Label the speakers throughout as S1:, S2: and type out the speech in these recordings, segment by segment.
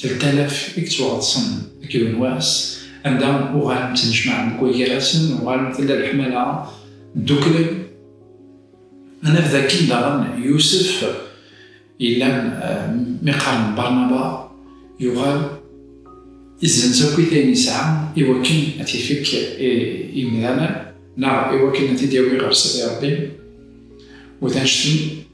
S1: Teltalaf i yettwaɣeḍsen akked unwas anda uɣalen ttnejmaɛen deg waggarasen, uɣalen tella leḥmala, ddukklen. Ad naf dakken daɣen Yusef yellan mi qqaren Barnaba yuɣal izzenz akkit ayen yesɛa iwakken ad t-ifekk i yemdanen neɣ iwakken ad t-id-yawi ɣer Sidi Ṛebbi u d anect n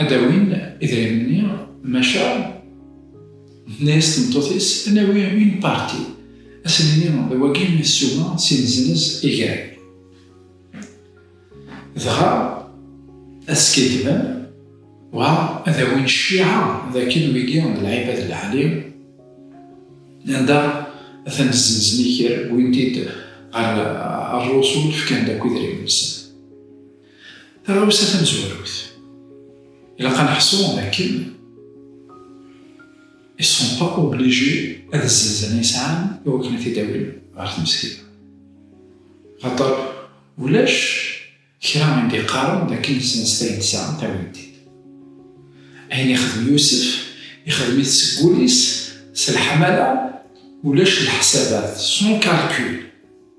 S1: Ad d-awin idrimen-nni, maca, tenna-yas tmeṭṭut-is, ad nawi une partie, ad sen-nini d wagi i ssuma si neznez i gar. Dɣa ad skiddben, wa ad awin cciɛa d akken wigi d lɛibad n lɛali, anda atan zzenzen i kra, wwin-t-id ɣer rrusul, fkan-d akk idrimen-nsen. Taɣawsa tamezwarut, ilaq ad neḥṣu dakken ils sont pas obligés ad zzenzen ay sɛan i wakken ad t-id-awin ɣer tmesgida. Axaṭer ulac kra i d-iqqaren dakken zzenset ayen tesɛamt awin-t-id. Ayen ixdem Yusef, ixdem-it seg wul-is s leḥmala, ulac leḥsabat, sans calcul.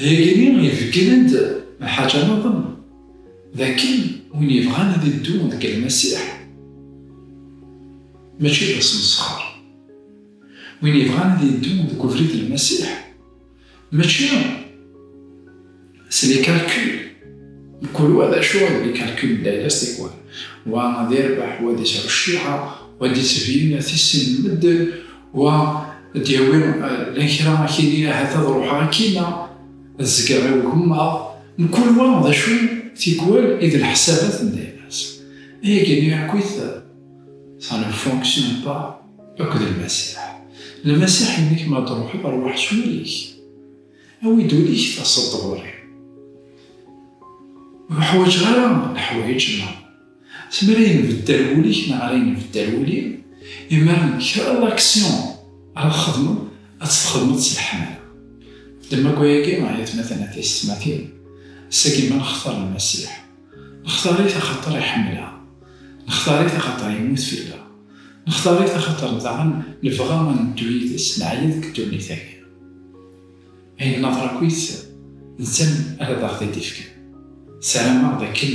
S1: Igenni ibeggnen-d lḥaǧa niḍen, d akken win yebɣan ad iddu deg Lmasiḥ, mačči d asmesxer. Win yebɣan ad iddu deg ubrid n Lmasiḥ, mačči s les calculs, mkul wa d acu d les calculs n layla s tikwal, wa ad irbeḥ, wa ad isɛu cciɛa, wa ad d-ittbin tisin n medden, Wa ad d-yawi lan kra akini ahat ad ruḥeɣ akkina, ad zgeɣ i ugemmaḍ, mkul wa d acu tikwal i d leḥsabat n dayem-as. Ayagi n uɛekkwit ça ne fonctionne pas akked Lmasiḥ. Lmasiḥ yenna-k ma d-truḥeḍ rwaḥ s wul-ik, awi-d ul-ik taseḍ-d ɣur-i. Ur ḥwaǧeɣ ara leḥwayeǧ-nneɣ. Si mi ara yenbeddal wul-ik neɣ ara yenbeddal wul-iw, imir-a kra n action ara txedmeḍ ad tt-txedmeḍ s leḥmala. Ddem akk ayagi ay atmaten a tiysetmatin, ass-agi ma nextar Lmasiḥ, nextar-it axaṭer iḥemmel-aɣ, nextar-it axaṭer yemmut fell-aɣ, nextar-it axaṭer daɣen nebɣa ad neddu yid-s, neɛya deg ddunit-agi. Ayen naḍer akkit, d netta ara d aɣ-t-id-ifken. Ssarameɣ d akken.